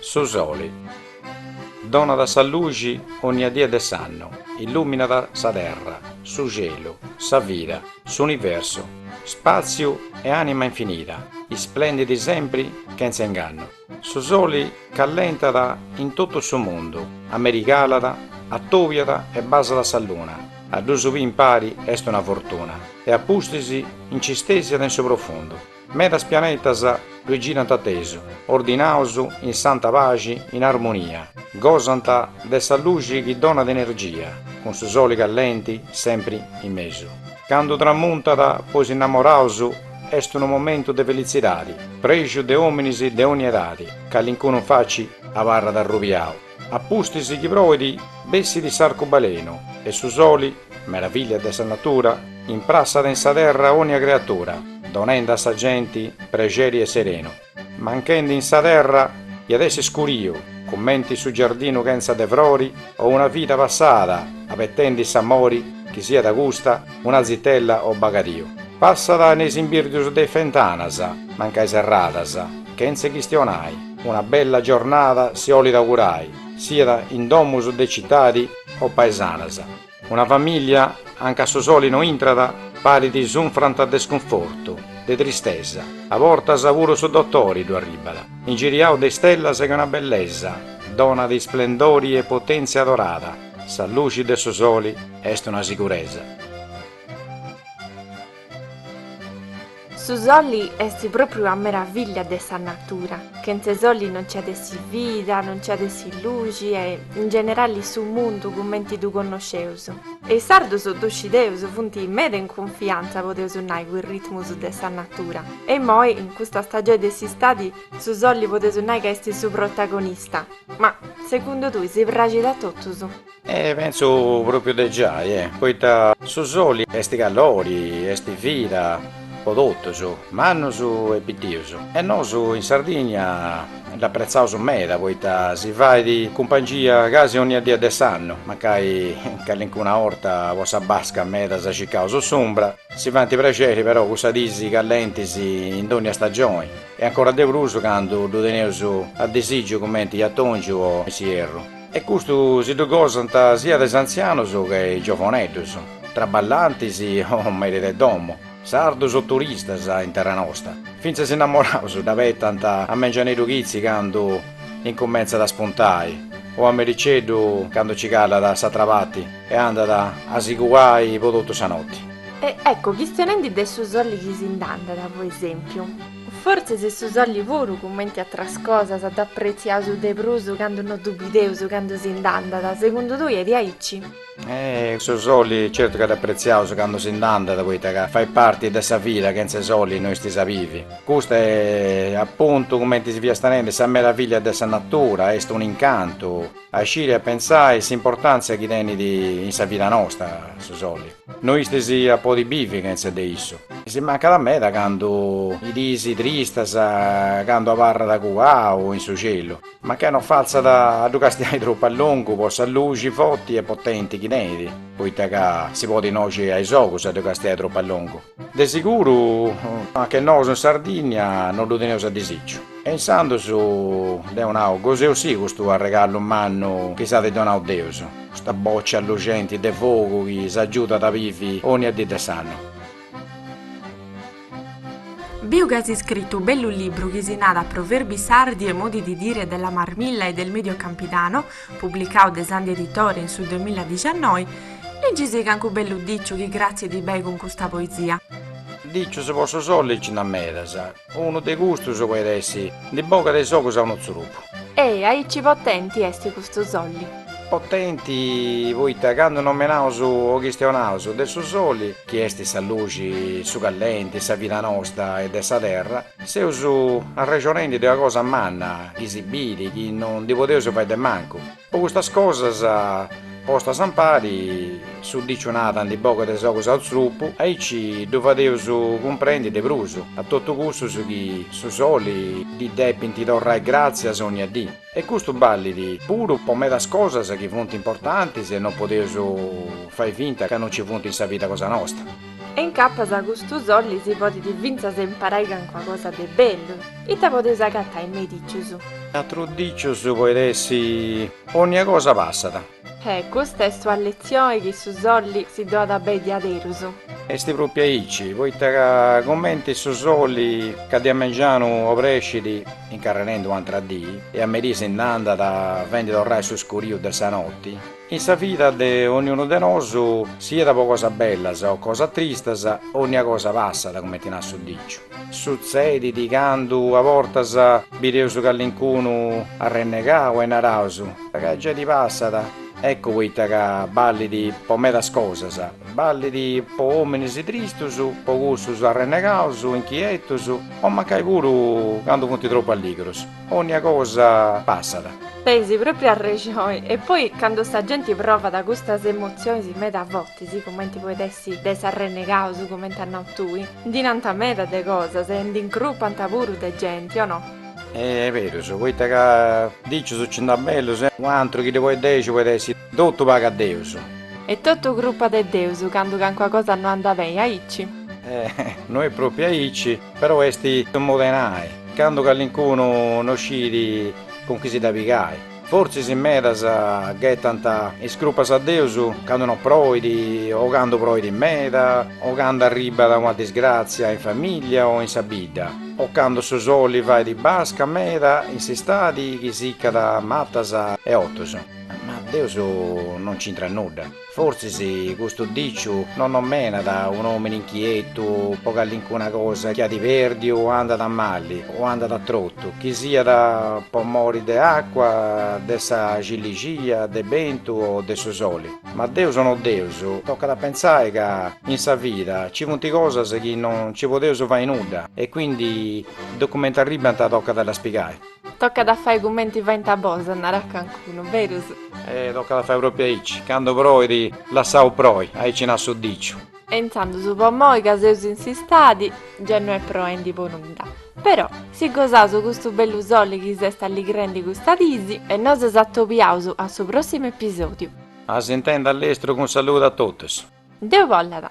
Su soli. Donat sa luxi onnia die de s'annu, illuminat sa terra, su celu, sa vida, s'universu, spaziu e anima infinida, isplendidi sempri chentza ingannu. Su soli callentat in totu su mundu, amerigalat, attobiat e basat sa luna, a ddus biri impari est una fortuna, e a pustis nci stesiat in su profundu. Medas pianetas ddui girant attesu, ordinaus, in santa paxi, in armonia, gosant de sa luxi chi donat energia, cun su soli callenti sempri in mesu. Candu tramuntat po is innamoraus est unu momentu de felitzidadi, prexu de ominis de ogni edadi, calincunu in facci abarrat arrubiau, a pustis chi proit bessit s'arcubalenu e su soli, meravillia de sa natura, imprassat in sa terra ogni creatura, donendi a sa genti prexeri e serenu. Manchendi in sa terra iat essi scuriu, cumenti su giardinu chentza de frori o una vida passada abetendi s'amori chi siat custa una zitella o bagadiu. Passat in is imbirdius de is fentanas, mancai serradas, chentza chistionai, una bella giornada si olit augurai, siat in domus de citadi o paesanas. Una famìllia, anca su soli no intrat, parit sunfrat de scunfortu, de tristesa, a bortas puru su dotori ddu arribbat, ingiriau de istellas che una bellesa donat isplendori e potèntzia dorada, sa luxi de su soli est una siguresa. Su soli est pròpriu una meravillia de sa natura, chentze soli non nci at essi vida, non nci at essi luxi e, in generali, su mundu cumenti ddu connosceus. E is sardus ddu scieus, funt meda in cunfiantza, podeus nai, cun is ritmus de sa natura. E immoi, in custa stagioni de s'istadi, su soli podeus nai ca est su protagonista. Ma, segundu tui, si praxit a totus? Eh, pentzu pròpiu de giai, e, poita su soli est calori, est vida po totus, mannus e pitius, e nosu in Sardigna dd'apretzaus meda poita si fait cumpangia casi onnia die de s'annu, mancai calincuna 'orta po sa basca meda si circaus s'umbra, si faint prexeri però cussas dis callentis in dònnia stagioni, e ancora de prus candu ddu teneus a disìgiu cumenti in atòngiu o in s'ierru. E custu si ddu gosant siat is antzianus che is giovoneddus, traballantis o meris de domu, sardus o turistas in terra nosta. Fintzas is innamoraus dd'abetant a mengianidu chitzi candu incumentzat a spuntai o a mericeddu candu nci calat a s'atra parti e andat a si cuai po totu sa noti. E ecco, chistionendi de su soli chi si nd'andat, po esèmpiu. Fortzis est su soli puru cumenti atras cosas dd'apretziaus de prus candu no ddu bideus candu si nd'andat, segundu tui est diaici? Su soli certu ca dd'apretziaus candu si nd'andat poita ca fait parti de sa vida, chentza soli no si bivit. Custa est apuntu cumenti fiast nendi sa meravillia de sa natura, est un incantu a sciri a pensai s'importantzia chi tenit in sa vida nosta su soli. No si podit bivi chentza de issu. Si mancat meda candu is dis tristas candu abarrat cuau in su celu, mancai no fatzat a ddu castiai tropu a longu po sa luxi foti e potenti chi tenit, poita ca si podit noxi a is ogus a ddu castiai tropu a longu. De seguru anche nosu in Sardinnia no ddu teneus a disìgiu. E insandos deu nau, goseus-sì custu arregallu mannu chi s'at donau Deus, custa bòcia luxenti de fogu chi s'agiudat a bivi ònnia dì de s'annu. Biu chi as iscritu unu bellu libru chi si narat Proverbi sardi e modi di dire della marmilla e del Medio Campidano, Publicau de Sandi Editore in su duamilla diciannoi, Ligi si cancu bellu diciu chi arrescit bei cun custa poesia. Dicius po su soli nci nd'at medas, unu de custus podit essi, ndi bogat is ogus a unu tzurupu. Est aici potenti esti custu soli. Potenti poita candu nomenaus o chistionaus de su soli, chi esti sa luxi, su callenti, sa vida nosta e de sa terra, Seus arrexonendi de una cosa manna chi si bidi chi no ndi podeus fai de mancu. Po custas cosas postas ampari su diciu nat ndi bogat is ogus a unu tzurpu, aici ddu fadeus cumprendi de prus a totu cussus chi a su soli ddi depint torrai gràtzias onnia dì. E custu ballit puru po medas cosas chi funt importantis e no podeus fai finta ca no nci funt in sa vida cosa nosta. E incapas custu soli si podit fintzas imparai cancuna cosa de bellu. Ita podeus agatai me is dicius? Atru diciu podit essi. Onnia cosa passat. E custa est una letzioni chi su soli si donat bei diaderus. Est pròpiu aici, poita ca cumenti su soli ca de a mengianu obrescit incarrerendi u' antra dì e a merì si nd'andat fendi torrai su scuriu de sa noti, in sa vida de onniunu de nosu, siat po cosas bellas o cosas tristas, onnia cosa passat, cumenti narat su diciu. Sutzedit candu a bortas bideus callincunu arrennegau e naraus, ca ge ddi passat, eccu poita ca ballit po medas cosas, ballit po ominis tristus, po cussus arrennegaus, inchietus, o mancai puru candu funt tropu alligrus, onnia cosa passat. Tenis propriu arrexoni, e poi candu sa genti provat custas emotzionis meda fortis, cumenti poit essi de is arrennegaus cumenti as nau tui, Ndi nanta meda de cosas e ndi incrupanta puru de genti, o no? Est berus, poita ca dicius ci nd'at bellus e. U antru chi ddi poit dexi poit essi. Totu pagat Deus. Est totu crupa de Deus candu cancua cosa no anda beni aici. E no est propriu aici, però est su modu 'e nai, candu callincunu no scit cun chi si dda pigai. Fortzis in medas ghetant is crupas a Deus candu no proit o candu proit meda o candu arribat una disgràtzia in famìllia o in sa bidda o candu su soli fait basca meda in s'istadi chi sicat matas e otus. Ma Deus no nc'intrat nudda. Fortzis custu dìciu non nòmenat un'òmine inchietu po calincuna cosa chi at pèrdiu o andat a mali o andat a trotu, chi siat po mori de àcua, de sa cillixia, de bentu o de su soli. Ma Deus o no Deus, tocat a pentzai ca in sa vida nci funt cosas chi non nci podeus fai nudda e quindi de cumenti arribant tocat a ddas pigai. Tocat a fai cumenti faint a Bosa, narat cancunu, berus? E tocat a fai propriu aici, candu proit lassaus proi, aici nat su diciu. E intzandus po moi ca seus in s'istadi, ge no est proendi po nudda. Però, si gosaus custu bellu soli chi s'est alligrendi custas disi. E nosu s'atobiaus a su prossimu episodiu. A s'intendi a lestru cun saludu a totus. Deu bollat.